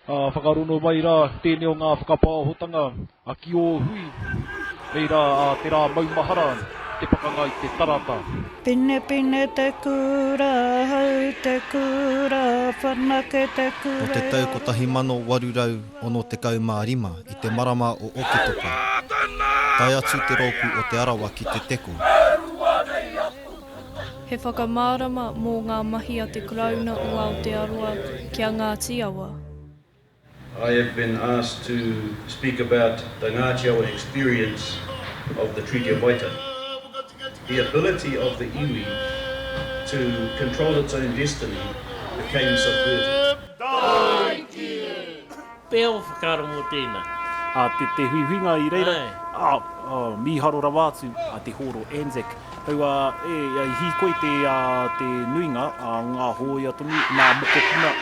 Ā, whakarono mai rā tēnei o ngā whakapāhotanga a ki ō hui, hei rā ā te rā maumahara te pakanga i te tarata. Pinepine te kura, hau te kura, whanake te kura. Nō te tau 1865 i te marama o Oketopa, tae atu te rōpū o Te Arawa ki Te Teko. He whakamārama mō ngā mahi a te Karauna o Aotearoa ki a Ngāti Awa. I have been asked to speak about the Ngati Awa experience of the Treaty of Waitangi. The ability of the iwi to control its own destiny became subverted. Pea o whakaaro mō tēnā. A te, te huihuinga i reira, a, a, mīharo rawa atu a te hōro Anzac. Kaua e, e hīkoi te, a, te nuinga a ngā hōia tonu, ngā mokopuna.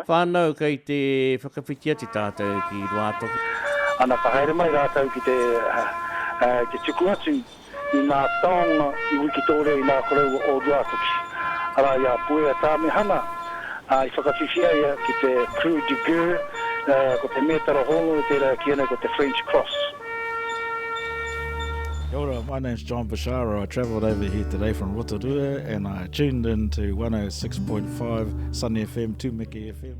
Whānau kei te whakawhiti atu tātou ki Ruātoki. Ana ka haere mai rātou ki te, ki te tuku atu i ngā taonga i Wikitoria i ngā koroua o Ruātoki, arā, i a Puea Tāmihana, ā, i whakawhiwhi ai ia ki te Croix de Guerre, ā, ko te mētara hōnore tērā e kīia nei ko te French Cross. Kia ora, my name's John Bashara, I travelled over here today from Rotorua and I tuned in to 106.5 Sunny FM, Tumeke FM.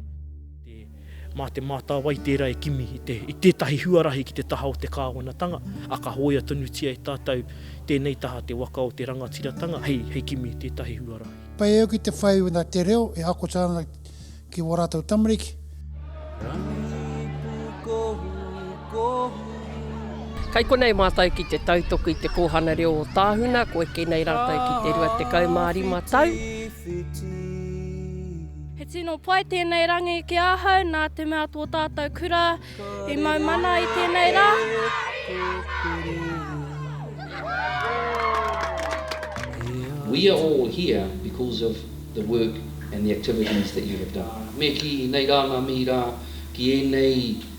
Mā Te Mātāwai tērā e kimi i tētahi huarahi ki te taha o te kāwanatanga, ā, ka hōia tonutia e tātou tēnei taha te waka o te rangatiratanga hei kimi i tētahi huarahi. Pai au ki te whai wena te reo e akota ana ki wā rātou tamariki. Kai konei mātou ki te tautoko i te kōhana reo o Tāhuna, ko eke nei rātou ki te 25 tau. He tino pai tēnei rangi ki ahau nā te mea tō tātou kura i mau mana i tēnei rā. We are all here because of the work and the activities that you have done. Me kī, nei rā ngā mihi rā ki ēnei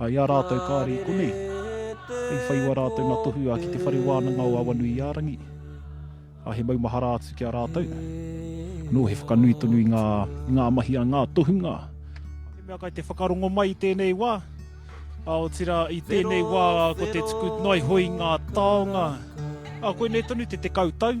Ā, i a rātou kāre i konei, hei whaiua rātou nā Tohua ki te whare wānanga o Awanuiārangi, ā, he maumahara atu ki a rātou. Anō he whakanui tonu i ngā, i ngā mahi a ngā tohunga. He mea kai te whakarongo mai i tēnei wā, ā, otirā, i tēnei wā ko te tuku noa iho i ngā taonga, ā, koinei tonu te tekau tau.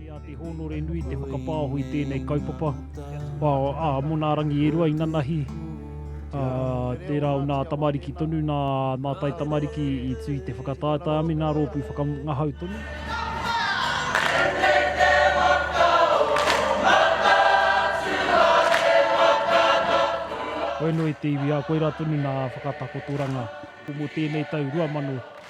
Kei a te hōnore nui te whakapāoho i tēnei kaupapa, ā, mō nā rangi e rua inanahi, ā, tērā o nā tamariki tonu, nā, nā tai tamariki i tū i te whakataetae a me nā rōpū whakangahau tonu. Koia noa i te iwi, ā, koirā tonu nā whakatakotoranga. Mō tēnei tau 2000.